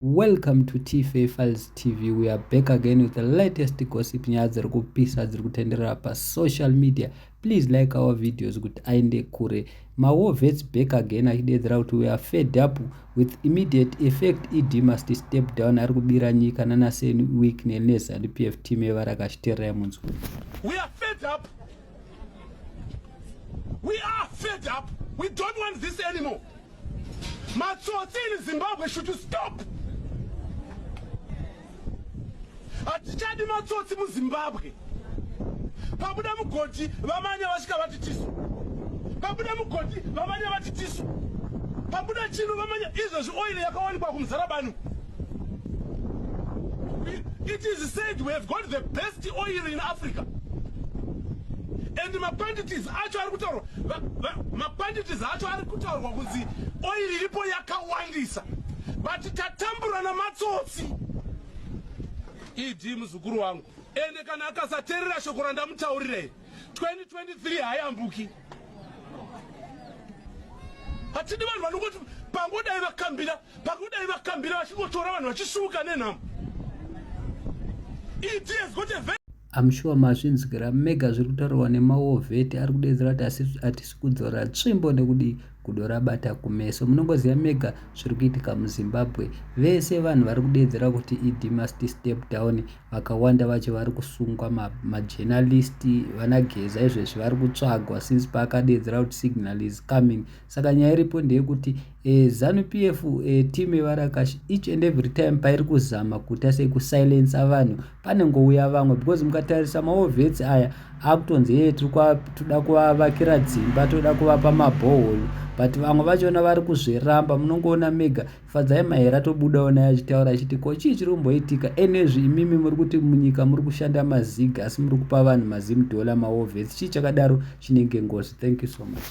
Welcome to TFA Files TV. We are back again with the latest gossip nyaya dziri kupisa dziri kutenderera pa social media. Please like our videos kuti aende kure. Ma war vets back again achideedzera kuti we are fed up with immediate effect ED must step down ari kubira nyika nana Sen Week ne Nesa ndi PF team evara kashitera yemunzwa. We are fed up. We are fed up. We don't want this anymore. Matsotsi in Zimbabwe should you stop. Hatichadi matsotsi muZimbabwe. Pabuda mugoti vamanya vasvika vati tisu. Pabuda mugoti vamanya vati tisu. Pabuda chino vamanya izvezvi oil yakawanikwa kumuzarabani. It is said we have got the best oil in Africa. And mapanditis acho ari kutaurwa mapanditis acho ari kutaurwa kunzi oil iripo yakawandisa but tatambura namatsotsi ed muzukuru wangu ende kana akasateerera shoko randamutaurira iri 2023 hayambuki hatidi vanhu vanongoti pangodai vakambira pangodai vakambira vachingotora vanhu vachisuka nenhamo I'm sure mazvinzwira mega zviri kutaurwa nemawovheti ari kudedzera kuti hatisi kudzora tsvimbo nekudii gudo rabata kumeso munongoziva mega zviri kuitika muzimbabwe vese vanhu vari kudedzera kuti ed must step down vakawanda vacho vari kusungwa ma, ma journalist vana geza izvezvi vari kutsvagwa since paakadeedzera kuti signal is coming saka nyaya iripo ndeyekuti eh, zanu p f eh, team yevarakashi each and every time pairi kuzama kuita sekusilensa vanhu panengouya vamwe because mukatarisa maovets aya akutonzi yee toda kuvavakira dzimba toda kuvapa mabohol but vamwe vachona vari kuzviramba munongoona mega Fadzai Mahera atobudawo naye achitaura achiti ko chii chiri kumboitika enezvi imimi muri kuti munyika muri kushanda mazig asi muri kupa vanhu mazim dollar mawovhesi chii chakadaro chinenge ngozi thank you so much.